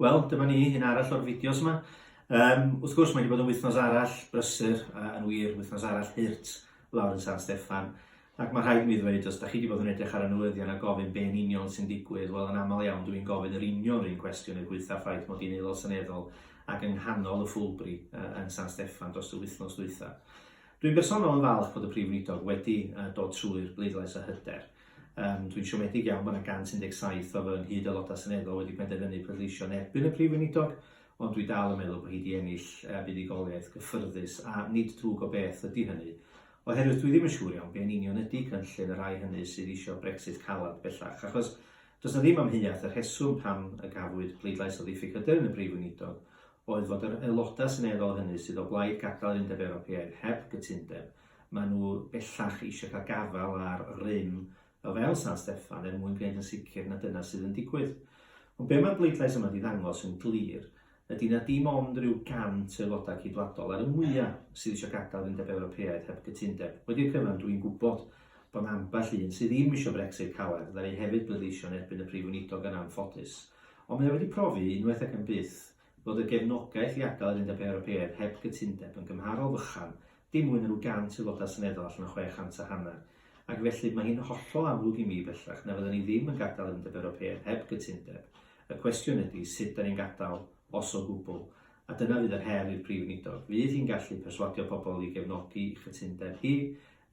Wel, dyma ni, un arall o'r fideos yma. Um, wrth gwrs, mae wedi bod yn wythnos arall brysur, a yn wir, wythnos arall hirt lawr yn San Steffan. Ac mae rhaid i mi ddweud, os da chi wedi bod yn edrych ar y newyddion a gofyn be'n union sy'n digwydd, wel yn aml iawn dwi'n gofyn yr union rhywun cwestiwn yn gweitha ffaith mod i'n aelod seneddol ac yng nghanol y ffwlbri uh, yn San Steffan dros y wythnos ddwytha. Dwi'n bersonol yn falch bod y Prif Weinidog wedi uh, dod trwy'r bleidlais a hyder. Yym, dwi'n siomedig iawn bod 'na 117 o fy nghyd-Aelodau Seneddol wedi penderfynu pleidleisio yn erbyn y Prif Weinidog, ond dwi dal yn meddwl bod hi 'di ennill yy buddugoliaeth gyffyrddus, a nid drwg o beth ydi hynny. Oherwydd dwi ddim yn siŵr iawn be yn union ydi cynllun y rhai hynny sydd isio Brexit caled bellach, achos does 'na ddim amheuaeth y rheswm pam y gafwyd pleidlais o ddiffyg hyder yn y Prif Weinidog oedd fod yr Aelodau Seneddol hynny sydd o blaid gadael yr Undeb Ewropeaidd heb gytundeb Maen nhw bellach eisiau cael gafael ar rym o fewn San Steffan er mwyn gwneud yn sicr na dyna sydd yn digwydd. Ond be mae'r bleidlais yma wedi ddangos yn glir ydy na dim ond rhyw 100 o aelodau ceidwadol ar y mwyaf sydd eisiau gadael yr Undeb Ewropeaidd heb gytundeb. Wedi'r cyfan, dwi'n gwybod bod 'na ambell un sydd ddim eisiau Brexit caled, fydda i hefyd bleidleisio yn erbyn y Prif Weinidog yn anffodus. Ond mae o wedi profi, unwaith ac am byth, fod y gefnogaeth i adael yr Undeb Ewropeaidd heb gytundeb yn gymharol fychan, dim mwy na rhyw 100 Aelodau Seneddol allan o 600 a hanner, ac felly mae hi'n hollol amlwg i mi bellach na fydden ni ddim yn gadael yr Undeb Ewropeaidd heb gytundeb. Y cwestiwn ydy sut 'dan ni'n gadael, os o gwbl. A dyna fydd yr her i'r Prif Weinidog. Fydd hi'n gallu perswadio pobl i gefnogi ei chytundeb hi,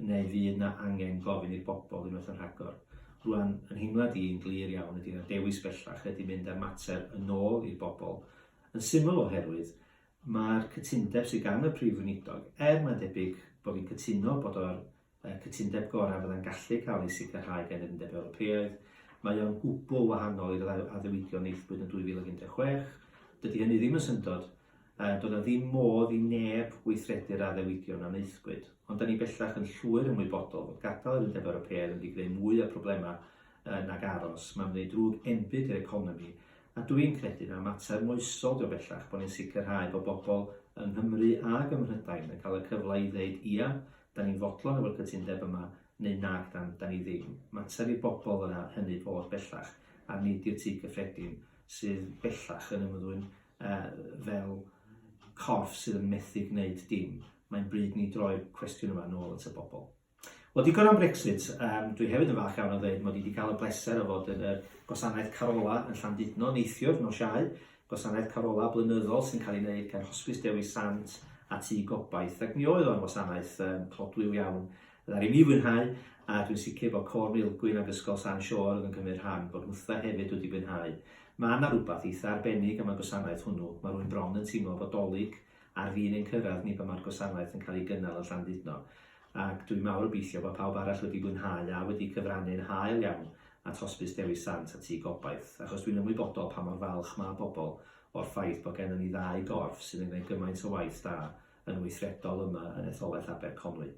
Neu fydd 'na angen gofyn i'r bobl unwaith yn rhagor? Rŵan, yn nheimlad i, yn glir iawn ydi na dewis bellach ydi mynd â'r mater yn ôl i'r bobl, yn syml oherwydd ma'r cytundeb sydd gan y Prif Weinidog, er mae'n debyg bo' fi'n cytuno bod o'r yy cytundeb gorau fydda'n gallu cael ei sicrhau gan yr Undeb Ewropeaidd, mae o'n gwbwl wahanol i'r addewidion wnaethpwyd yn 2016, dydi hynny ddim yn syndod, Yy, doedd 'na ddim modd i neb weithredu'r addewidion a wnaethpwyd. Ond 'da ni bellach yn llwyr ymwybodol fod gadael yr Undeb Ewropeaidd yn mynd i greu mwy o problemau yy nag aros. Mae'n gwneud drwg enbyd i'r economi. A dw i'n credu na mater moesol 'di o bellach bod ni'n sicrhau bod bobl yng Nghymru ag ym Mhrydain yn cael y cyfle i ddeud 'ia, 'da ni'n fodlon efo'r cytundeb yma' neu 'nag 'dan, 'da ni ddim'. Mater i bobl yna hynny fod bellach, a nid i'r Tŷ Cyffredin sydd bellach yn ymddwyn Yy, fel corff sydd yn methu gwneud dim, mae'n bryd ni droi'r cwestiwn yma nôl at y bobl. Wel, digon am Brexit. Um, dwi hefyd yn falch iawn o ddweud mod i wedi cael y bleser o fod yn y gwasanaeth Carola yn Llandudno neithiwr nos Iau, gwasanaeth Carola blynyddol sy'n cael ei wneud gan Hosbis Dewi Sant a Tŷ Gobaith, ac mi oedd o'n wasanaeth um, clodwiw iawn Ddaru mi fwynhau, a dwi'n sicr bod Côr Maelgwyn ac Ysgol San Siôr oedd yn cymryd rhan, bod Nhwtha hefyd wedi mwynhau. Mae 'na rwbath eitha' arbennig am y gwasanaeth hwnnw, mae rywun bron yn teimlo fod 'Dolig ar fin ein cyrraedd ni pan mae'r gwasanaeth yn cael ei gynnal yn Llandudno. Ac dwi'n mawr obeithio bod pawb arall wedi mwynhau a wedi cyfrannu'n hael iawn at Hosbis Dewi Sant a Tŷ Gobaith, achos dwi'n ymwybodol pa mor falch mae pobl o'r ffaith bod gennym ni ddau gorff sydd yn gwneud gymaint o waith da yn weithredol yma yn Etholaeth Aberconwy.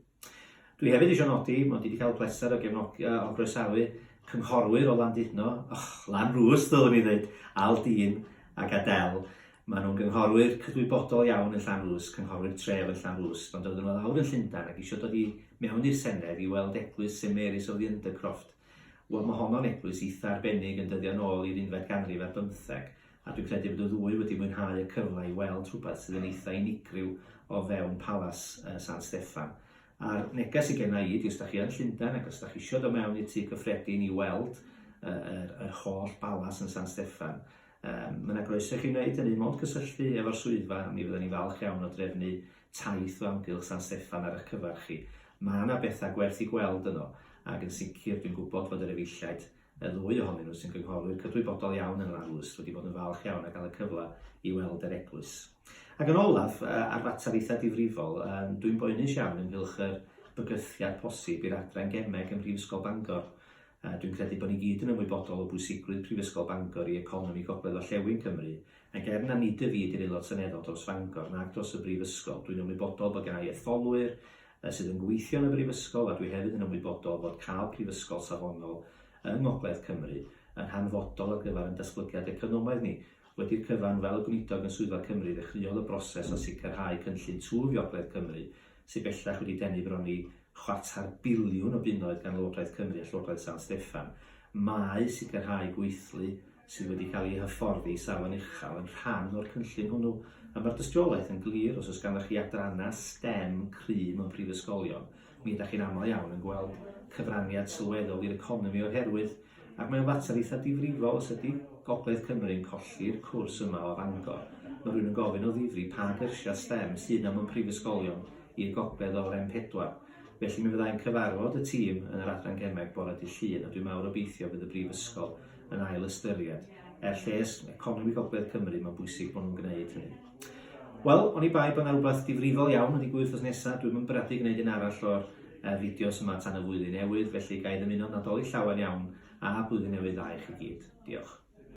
Dwi hefyd eisiau nodi mod i wedi cael y pleser o gefnogi, uh, o groesawu cynghorwyr o Landudno, och, Lan Rwst ddylwn i ddweud, Al Dîn ac Adel. Maen nhw'n gynghorwyr cydwybodol iawn yn Llan Rwst, cynghorwyr tref yn Llan Rwst, ond oedden nhw lawr yn Llundain ac eisiau dod i mewn i'r Senedd i weld eglwys St Mary's of the Undercroft. Wel, mae honno'n eglwys eitha arbennig yn dyddio nôl i'r unfed ganrif ar bymtheg, A dwi'n credu bod y ddwy wedi mwynhau y cyfle i weld rhywbeth sydd yn eitha' unigryw o fewn Palas San Steffan. A'r neges sy genna' i ydi os 'da chi yn Llundain ac os 'da chi isio dod mewn i'r Tŷ Cyffredin i weld yr yr holl balas yn San Steffan, yym ma' 'na groeso i chi wneud hynny, mond cysylltu efo'r swyddfa, mi fyddan ni'n falch iawn o drefnu taith o amgylch San Steffan ar 'ych cyfar chi. Ma' 'na betha' gwerth 'u gweld yno, ac yn sicr dwi'n gwybod fod yr efeilliaid y ddwy ohonyn nhw sy'n gynghorwyr cydwybodol iawn yn yr arlwys wedi bod yn falch iawn a gael y cyfle i weld yr eglwys. Ac yn olaf, ar fater eitha difrifol, dwi'n boenus iawn ynghylch yr bygythiad posib i'r adran gemeg ym Mhrifysgol Bangor. Dwi'n credu bod ni gyd yn ymwybodol o bwysigrwydd Prifysgol Bangor i economi Gogledd Orllewin Cymru, ac er na nid y fi ydy'r Aelod Seneddol dros Fangor nac dros y Brifysgol, dwi'n ymwybodol bod gennau etholwyr Fe sydd yn gweithio yn y Brifysgol a dwi hefyd yn ymwybodol fod cael prifysgol safonol yng Ngogledd Cymru yn hanfodol ar gyfer ein datblygiad economaidd ni. Wedi'r cyfan, fel y Gweinidog yn Swyddfa Cymru, ddechreuodd y broses o sicrhau cynllun twf i Ogledd Cymru, sydd bellach wedi denu bron i chwarter biliwn o bunnoedd gan Lywodraeth Cymru a Llywodraeth San Steffan. Mae sicrhau gweithlu sydd wedi cael eu hyfforddi i safon uchel yn rhan o'r cynllun hwnnw, a mae'r dystiolaeth yn glir, os oes ganddoch chi adrannau stem cry mewn prifysgolion, mi ydych chi'n aml iawn yn gweld cyfraniad sylweddol i'r economi o'r herwydd, ac mae o'n fater eitha' difrifol os ydy Gogledd Cymru'n colli'r cwrs yma o Fangor, mae rhywun yn gofyn o ddifri pa gyrsiau stem sydd 'na mewn prifysgolion i'r gogledd o'r M4. Felly mi fydda i'n cyfarfod y tîm yn yr Adran Gemeg bore dydd Llun a dwi'n mawr obeithio bydd y Brifysgol yn ail ystyried. Er lles economi Gogledd Cymru, mae'n bwysig bod nhw'n gwneud hynny. Wel, o'n i bai bod yna rhywbeth difrifol iawn yn digwydd wrth nesaf, dwi'n mynd bwriadu gwneud un arall o'r uh, fideos yma tan y flwyddyn newydd, felly gael i ddymuno nadolig llawen iawn a blwyddyn newydd dda i chi gyd. Diolch.